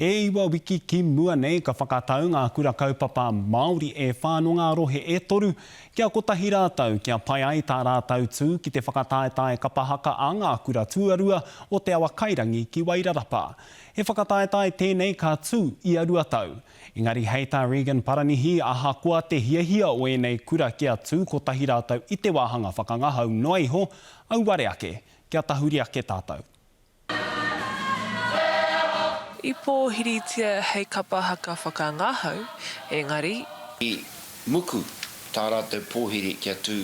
E iwa wiki ki mua nei ka whakatau ngā Kura Kaupapa Māori e whā nō ngā rohe e toru kia kotahi rātou kia pai ai tā rātou tū ki te whakataetae kapa haka a ngā kura tuarua o Te Awakairangi ki Wairarapa. He whakataetae tēnei ka tū ia rua tau. Engari hei tā Regan Paranihi ahakoa te hiahia o ēnei kura kia tū kotahi rātou i te wāhanga whakangahau noa iho, auare ake kia tahuri ake tātou. I pōhiritia hei kapa haka whakangahau, engari. I muku tā rātou pōhiri kia tū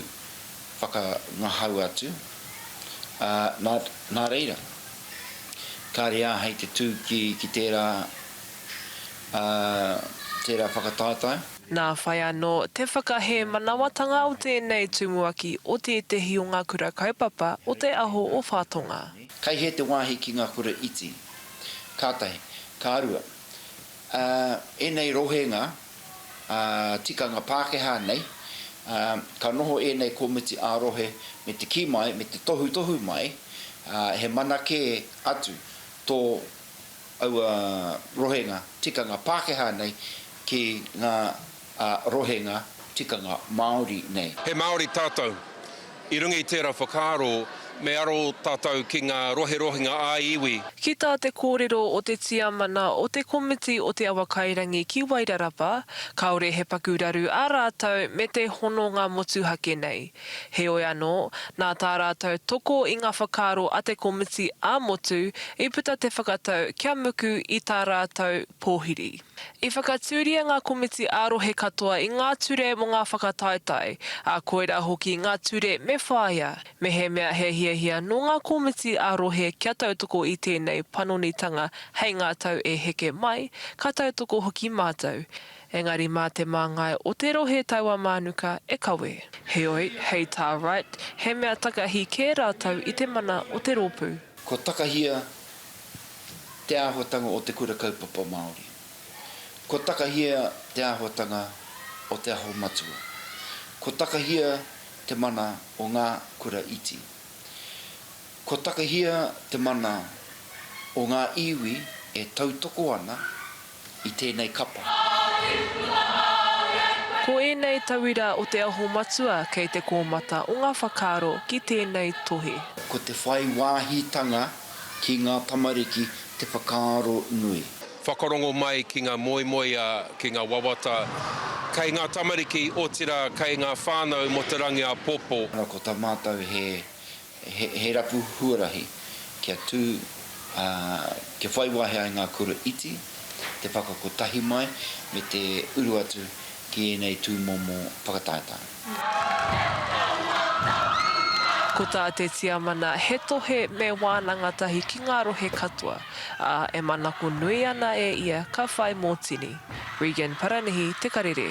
whakangahau atu, ā, nā, nā reira, kāre āhei te tū ki, ki tērā, ā, tērā whakataetae. Nā whai anō te whakahēmanawatanga o tēnei tumuaki o tētehi o ngā kura kaupapa o te aho o Whatonga. Kai hea te wāhi ki ngā kura iti? Kātahi, ka rua. Ā, ēnei rohenga, ā, tikanga Pākehā nei, ā, ka noho ēnei komiti ā-rohe me te kī mai, me te tohutohu mai, ā, he mana kē atu tō aua rohenga tikanga Pākehā nei ki ngā a rohenga tikanga Māori nei. He Māori tātou. I runga i tērā whakaaro, me aro tātou ki ngā roherohenga ā-iwi. Ki tā te kōrero o te tiamana o te komiti o Te Awakairangi ki Wairarapa, kāore he paku raru ā rātou me te hononga motuhake nei. Heoi anō, nā tā rātou toko i ngā whakaaro a te komiti ā-motu i puta te whakatau kia muku i tā rātou pōhiri. I whakatūria ngā komiti ā-rohe katoa i ngā ture mō ngā whakataetae, ā, koirā hoki ngā ture me whāia. Mehemea he hiahia nō ngā komiti ā-rohe kia tautoko i tēnei panonitanga hei ngā tau e heke mai, ka tautoko hoki mātou. Engari mā te māngai o te rohe taua mānuka e kawe. Heoi, hei tā Wright, he mea takahi kē rātou i te mana o te rōpū. Kua takahia te āhuatanga o te Kura Kaupapa Māori. Kua takahia te āhuatanga o Te Aho Matua. Kua takahia te mana o ngā kura iti. Kua takahia te mana o ngā iwi e tautoko ana, i tēnei kapa. Ko ēnei tauira o Te Aho Matua kei te kōmata o ngā whakaaro ki tēnei tohe. Ko te whai wāhitanga ki ngā tamariki te whakaaro nui. Whakarongo mai ki ngā moemoeā, ki ngā wawata kei ngā tamariki, otirā kei ngā whānau mō te rangi āpōpō. Ko tā mātou he He rapu huarahi kia tū, ā, kia whai wāhi ai ngā kura iti, te whakakotahi mai, me te uru atu ki ēnei tūmomo whakataetae. Ko tā te Tiamana, he tohe me wānanga tahi ki ngā rohe katoa, ā, e manako nui ana e ia ka whai mōtini. Regan Paranihi, Te Karere.